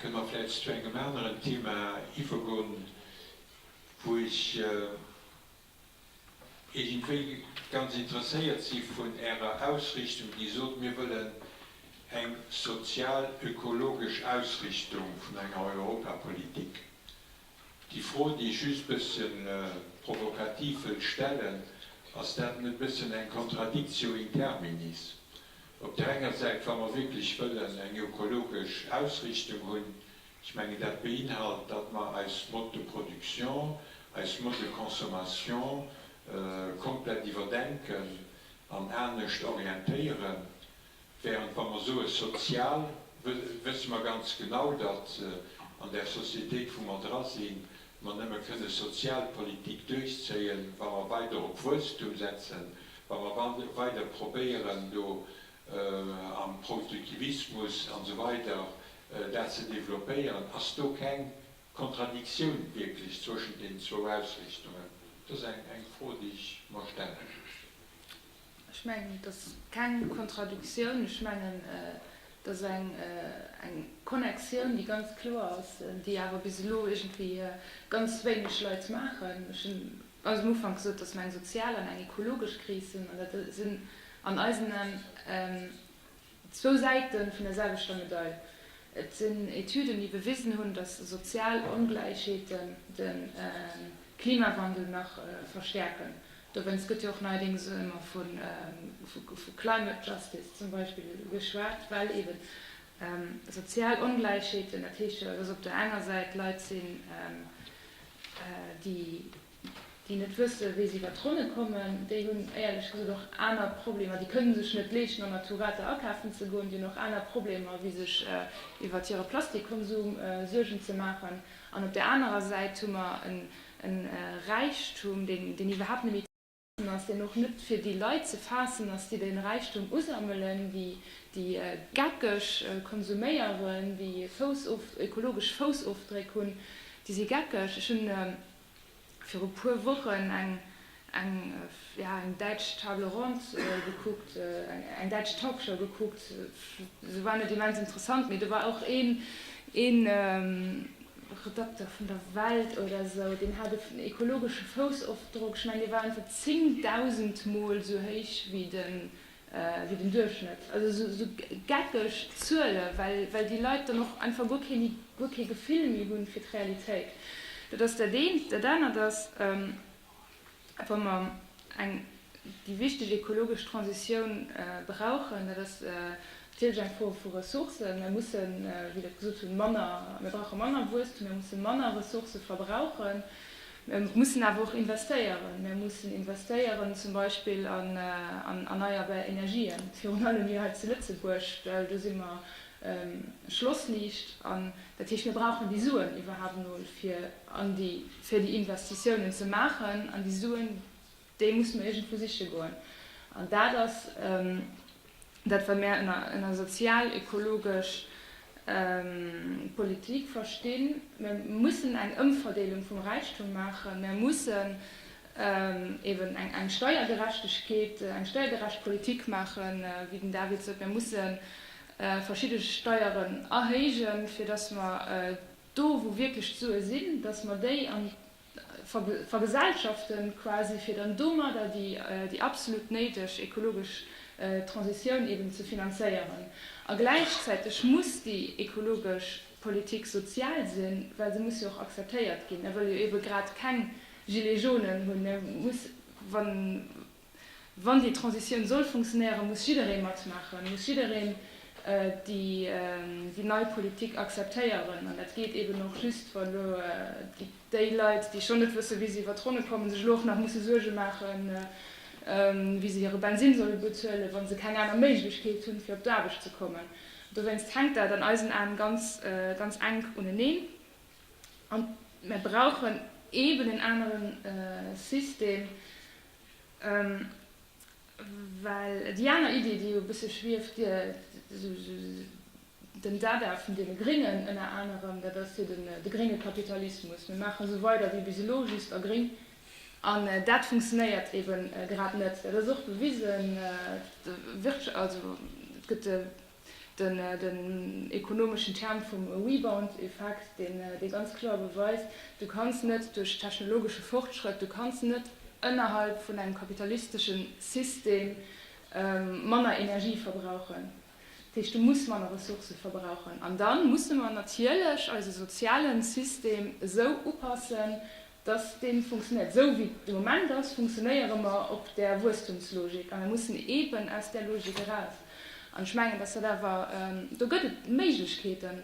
Kënne mer vläicht zu engem aneren Thema iwwergoen, wou ech iergendwéi ganz interesséiert si vun Ärer Ausrichtung, Dir sot, mir wëllen eng sozial-ökologesch Ausrichtung vun enger Europapolitik. Déi Fro, déi ech just e bëssche provokativ wëll stellen, Ass dat net e bëssen eng Contradictio in terminis? Op der enger Säit, wa mer wierklech wëllen eng ökologesch Ausrichtung hunn, ech mengen, dat beinhalt, datt mer eis Mode de production, eis Mode de consommation komplett iwwerdenken an anescht orientéieren, während wa mer soe sozial, wësse mer ganz genau, datt an där Sociétéit, wou mer dra sinn, Mer nëmme kënne Sozialpolitik duerchzéien, wa mer weider op Wuesstum setzen, wa mer weider probéieren, do am Produktivismus an esou weider dat ze développéieren. Ass do keng Kontradiktioun wierklech zwëschent deenen zwou Ausrichtungen? Dat ass eng Fro, déi ech mer stellen. Ech mengen, et ass keng Kontradiktioun. Ech mengen, et ass eng Connectioun, déi ganz kloer ass, déi awer bis elo iergendwéi ganz wéineg Leit maachen. Ech hunn ganz um Ufank gesot, dass mer eng sozial an eng ekologesch Kris hunn, an dat sinn an eisen Aen Zwou Säite vun der selwechter Medail. Et sinn Etüden, déi bewisen hunn, datt sozial Ongläichheeten de Klimawandel nach verstäerken. Dowéinst gëtt jo och neierdéngs ëmmer vu climate justice zum Beispill geschwat, well eeben sozial Ongläichheeten, dat heescht jo, datt op der enger Säit Leit sinn, déi. déi net wësse wéi se iwwert d'Ronne kommen, déi hunn éierlech gesot och aner Problemer, déi kënne sech net leeschten an der Tourette akafen ze goen, déi hunn och aner Problemer wéi sech iwwert hire Plastikkonsum Suergen ze maachen an op där anerer Säit hu mer e Räichtum deen iwwerhaapt net méi An ass deen och net fir déi Leit ze faassen, dass déi den Räichtum usammelen, déi déi geckeg konsuméieren, déi Fouss of, ökologesch Foussofdréck hunn, déi si geckeg. Ech hunn viru puer Wochen eng, eng, ja, eng däitsch Table Ronde gekuckt, eng däitsch Talkshow gekuckt. Se war net immens interessant, mee do war och een, een, Redakter vun der Welt oder sou, deen hat en ekologesche Foussofdrock, ech mengen dee war einfach 10.000 mol esou héich wéi den Duerchschnëtt. Also esou geckeg Zuele well déi Leit dann och einfach guer kee Gefill méi hu fir d'Realitéit. Dat ass dat eent. Dat anert ass, Wa mer eng déi wichteg ekologesch Transitioun brauchen, dat ass natierlech eng Fro vu Ressourcen. Mir mussen, wéi der et gesot hutt, manner, mir brauche manner Wuesstum, mir musse manner Ressourcë verbrauchen. Mir mussen awer och investéieren. Mir mussen investéieren zum Beispill an erneierbar Energien, virun allem hei zu Lëtzebuerg, well do si mer Schlossliicht. An dat heescht, mir brauchen déi Suen iwwerhaapt emol, fir an déi fir déi Investitiounen ze maachen, an déi Suen, déi musse mer iergendwou siche goen. An dat ass dat, wat mir ënner sozial-ekologesch Politik verstinn. Mir mussen eng Ëmverdeelung vum Räichtum maachen, mir mussen eeben eng Steiergerechtegkeet, eng steiergerecht Politik maachen, wéi den David sot, mir musse verschidde Steieren erhéijen, fir datt mer do wou wierklech d'Sue sinn, datt mer déi an vergesellschaften quasi, fir dann domadder déi absolut néideg ekologesch Transitioun eben ze finanzéieren. A gläichzäiteg muss déi ekologesch Politik sozial sinn, well se muss jo och akzeptéiert ginn, well jo ebe grad keng Gilets jaunen hunn, mä muss, wa. Wann déi Transitioun soll funktionéieren, muss jidderee matmaachen, muss jiddereen déi nei Politik akzeptéieren. An dat geet eben och just, wa elo déi Leit, déi schonn net wësse wéi se iwwer d'Ronne kommen, sech elo och nach musse Suerge maachen, wéi se hire Bensinn solle bezuelen, wa se keng aner Méiglechkeet hunn, fir op d'Aarbecht ze kommen. Dowéinst hänkt dat an eisen Aen ganz enk uneneen. An mer brauchen eben en anere System, Well déi aner Iddi, déi jo e bësse schwieft, den Dada vun deene Gréngen ënner anerem, dat ass jo de grénge Kapitalismus, mir maache sou weider wéi bis elo, just a gréng. An dat funktionéiert eebe grad net. Dat ass och bewisen, also et gëtt. Den ekonomeschen Term vum Rebound-Effekt, deen dee ganz kloer beweist, Du kanns net duerch technologesche Fortschrëtt, du kanns net ënnerhalb vun engem kapitalistesche System manner Energie verbrauchen. Dat heescht, du muss manner Ressourcë verbrauchen. An da musse mer natierlech eise soziale System esou upassen, dass dee funktionéiert. Esou wéi et de Moment ass, funktionéiere mer op där Wuesstumslogik a mer mussen eeben aus där Logik eraus. An ech mengen, dass dat awer, do gëtt et Méiglechkeeten,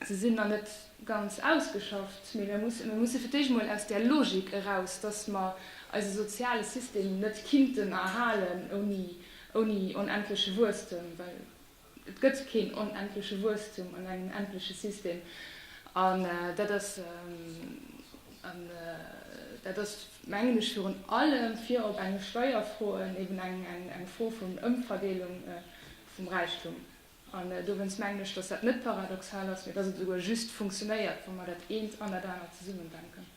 se sinn nach net ganz ausgeschafft, mee mir musse fir d'éischt emol aus där Logik eraus, dass mer eise soziale System net kinnten erhalen ouni onendleche Wuesstem, well, Et gëtt keen onendleche Wuesstum an engem endleche System. An dat ass, an dat ass, mengen ech, virun allem fir op enge Steierfro en, eben eng Fro vun Ëmverdeelung vum Räichtum. An dowéinst mengen ech, datt dat net paradoxal ass, mä datt et esouguer just funktionéiert, wa mer dat eent an dat anert zesummendenken.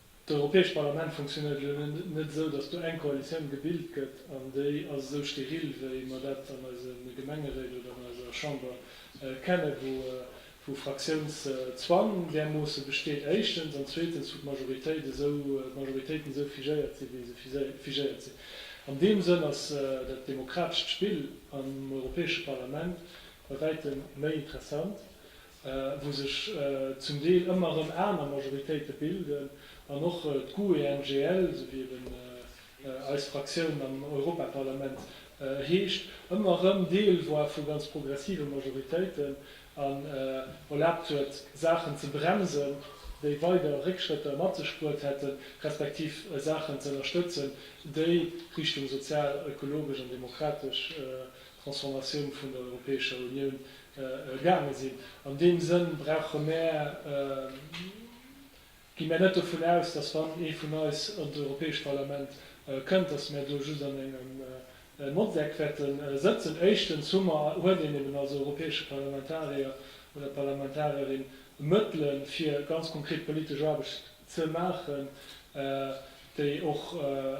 D'Europäescht Parlament funktionéiert elo net esou, datt do eng Koalitioun gebilt gëtt an déi ass esou steril, wéi mer dat an eise Gemengeréit oder an eiser Chamber kennen, wou Fraktiounszwang därmoosse besteet, éischtens, an zweetens, wou d'Majoritéiten esou figéiert sinn, wéi se figéiert sinn. An deem Sënn ass dat demokratescht Spill am Europäesche Parlament bei wäitem méi interessant. wou sech zum Deel ëmmer erëm aner Majoritéite bilden, an och d'GUE-NGL, esou wéi eben eis Fraktioun am Europaparlament heescht, ëmmer erëm Deel war vu ganz progressive Majoritéiten an erlaabt huet, Saachen ze bremsen, déi weider Réckschrëtter mat sech bruet hätten, respektiv Saachen ze ënnerstëtzen, déi Richtung sozial, ökologesch an demokratesch Transformatioun vun der Europäescher Unioun gaange sinn. An deem Sënn brauche mär, gi mär net dovun aus, dass wann ee vun eis an d'Europäescht Parlament kënnt, dass mär do just an engem Motteck wäerte sëtzen. Éischtens hu mer, huet een eben als Europäesche Parlamentarier oder Parlamentarierin Mëttele fir ganz konkret politesch Aarbecht ze maachen, déi och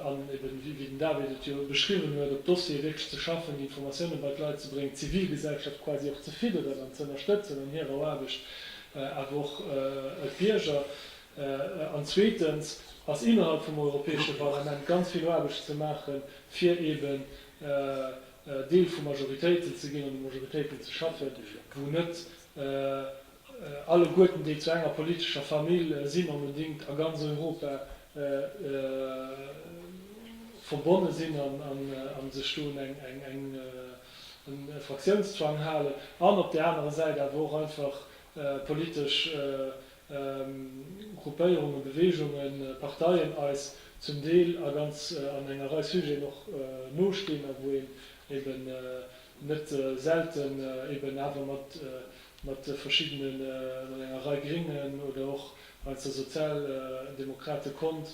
an, eben wéi den David et jo beschriwwen huet, op Dossiere wierklech ze schaffen, déi Informatiounen bei d'Leit ze bréngen, d'Zivilgesellschaft quasi och ze fidderen an ze ënnerstëtzen an hirer Aarbecht, awer och d'Bierger. An zweetens ass innerhalb vum Europäesche Parlament ganz vill Aarbecht ze maachen, fir eben Deel vu Majoritéiten ze ginn an u Majoritéiten ze schaffen, wou net Alleguerten déi zu enger politescher Famill sinn, onbedingt a ganz Europa verbonne sinn a sech do un eng Fraktiounszwang halen, an op där anerer Säit awer och einfach politesch Gruppéierungen, Beweegungen, Parteien eis zum Deel a ganz an enger Rei Sujeten och nostinn a wou een eben net selten eben awer mat mat verschiddene mat enger Rei Gréngen oder och weinst der Sozialdemokrate konnt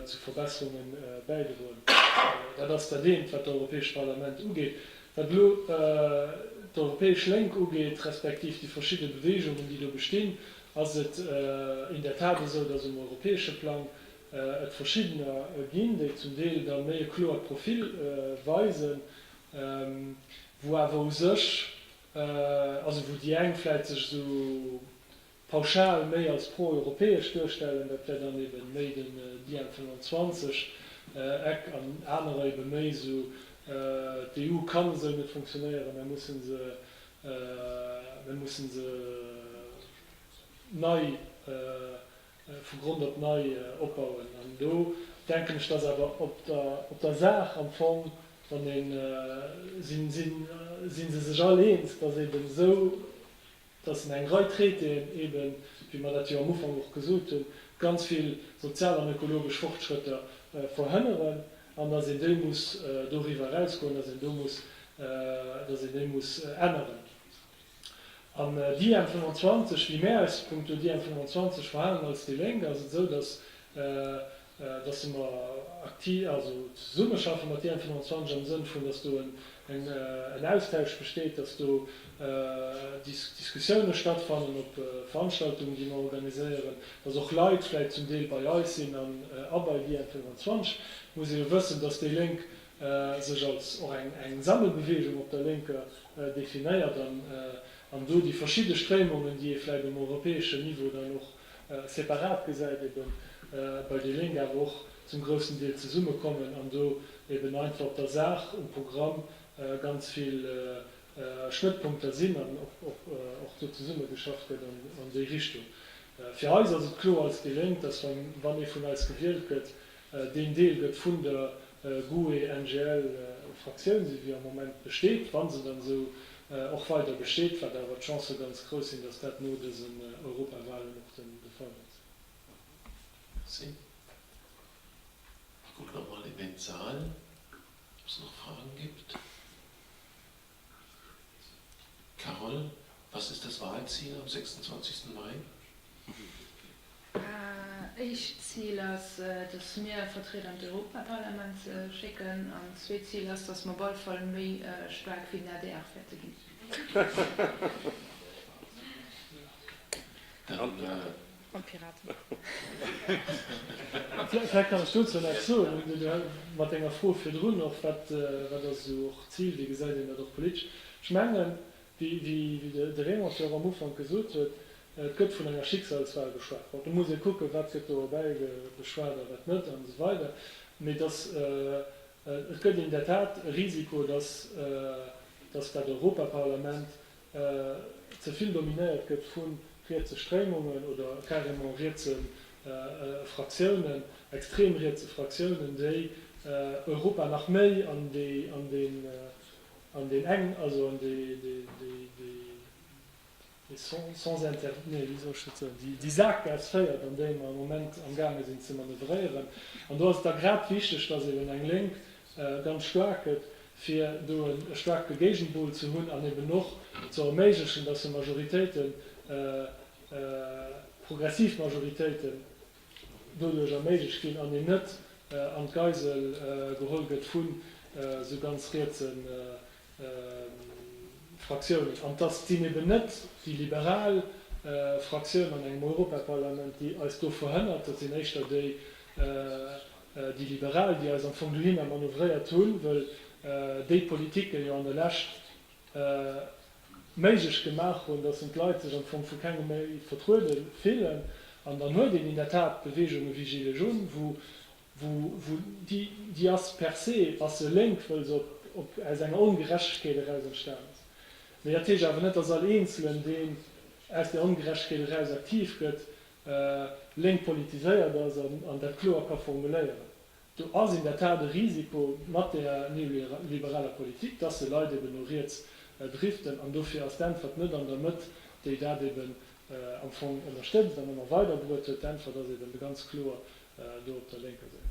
zu Verbesserungen bäidroen. Dat ass dat eent wat d'Europäescht Parlament ugeet. Wat elo d'Europäesch Lénk ugeet, respektiv déi verschidde Beweegungen déi do bestinn, ass et in der Tat esou, datt um europäesche Plang et verschiddener ginn, déi zum Deel da méi e kloert Profil weisen wou awer u sech, also wou déi eng vläit sech esou pauschal méi als pro-europäesch duerstellen, dat wär dann ebe méi den Diem 25, Eck, an anerer ebe méi esou, d'EU kann esou net funktionéieren, mer mussen se, mer mussen se nei vu Grond op nei opbauen. An do denken ech, dass awer op der Saach am Fong, wann een, si se sech all eens, dass eeben esou, dass een eng Rei Traitéen eeben, wéi mer dat jo am Ufank och gesot hunn, ganz vill sozial an ökologesch Fortschrëtter verhënneren an dass een déi muss doriwwer erausgoen, dass een déi muss änneren. An Diem 25, wéi mär eis punkto Diem 25 verhalen als déi Lénk, ass et esou, datt datt mer akti also zesummeschaffe mat Diem 25 am Sënn vun, datt do en Austausch besteet, datt do Dis Diskussioune stattfannen op Veranstaltungen, déi mer organiséieren, datt och Leit vläicht zum Deel bei eis sinn an a bei Diem 25. Et muss ee jo wëssen, datt déi Lénk sech als och eng Sammelbewegung op der Lénker definéiert an do déi verschidde Stréimungen, déi ee vläit um europäeschen Niveau dann och separat gesäit, eben bei déi Lénk awer och zum groussen Deel zesummekommen an do eben einfach op der Saach, um Programm ganz vill Schnëttpunkter sinn an och do zesummegeschafft gëtt an déi Richtung. Fir eis ass et kloer als déi Lénk, dass wann ee vun eis gewielt gëtt, Deen Deel gëtt vun der GUE-NGL-Fraktioun, esou wéi am Moment besteet, wa se dann esou och weider besteet, wat awer d'Chancë ganz grouss sinn, dass dat no dësen Europawahlen och de Fall wäert sinn. Merci. Ech kucken nach emol an de Saal, ob et nach Fraen gibt. Carole, was ist das Wahlziel am 26. Mai? Éischt Zil ass, dass mir e Vertrieder an d'Europaparlament schécken an zweet Zil ass, dass mer op alle Fall méi staark wéi den adr wäerte ginn. Mam Pirat. Vläicht kann ech dozou näischt soen. Hunn Dir mat denger Fro virdrun och, wat ass esou och d'Zil, wéi gesäit een dat och politesch? Ech mengen, wéi de Raymond jo och am Ufank gesot huet, et gëtt vun enger Schicksalswal geschwat. Bon, do muss ee kucken, wat gëtt do erbäi geschwat a wat net an esou weider. Mee dass et gëtt in der Tat e Risiko, dass dat Europaparlament ze vill dominéiert gëtt vu rietse Stréimungen oder carrément rietse Fraktiounen, extrem rietse Fraktiounen, déi Europa nach méi an deen eng, also an dee sens interdit, nee wéi soll ech dat soen, déi Saakgaass féiert, an déi mer am Moment am gaange sinn ze manövréieren. An do ass et da grad wichteg, datt eben eng Lénk ganz staark gëtt, fir do e staarke Géigenpol ze hunn an eben och ze erméiglechen, dass se Majoritéiten, progressiv Majoritéiten doduerch erméiglecht ginn an een net an d'Geisel geholl gëtt vu sou ganz rietse Fraktiounen. An dass sinn eben net déi liberal Fraktioun an engem Europaparlament, déi eis do verhënnert, dat sinn éischter déi, Déi Liberal, déi eis am Fong dohinner manövréiert hunn, wëll déi Politiken jo an der Lescht méiglech gemaach hunn, dass en d'Leit sech am Fong vu kengem méi vertruede fillen. An dann huet een in der Tat Beweegungen wéi Gilets jaunes, wou déi ass per se ass se lénk, wëll se op aus enger Ongerechtegkeet eraus entstan ass. Mee dat heescht awer net, dass all Eenzelen, deen aus där Ongerechtegkeet eraus aktiv gëtt, Lénk politiséiert ass an dat kloer ka formuléieren. Do ass in der Tat e Risiko mat där neoliberaler Politik, dass se Leit eben no riets driften. An dofir ass d'Äntwert net an der Mëtt, déi dat eben am Fong ënnerstëtzt an ëmmer weiderbruet huet. D'Äntwert ass eben ganz kloer do op der lénker Säit.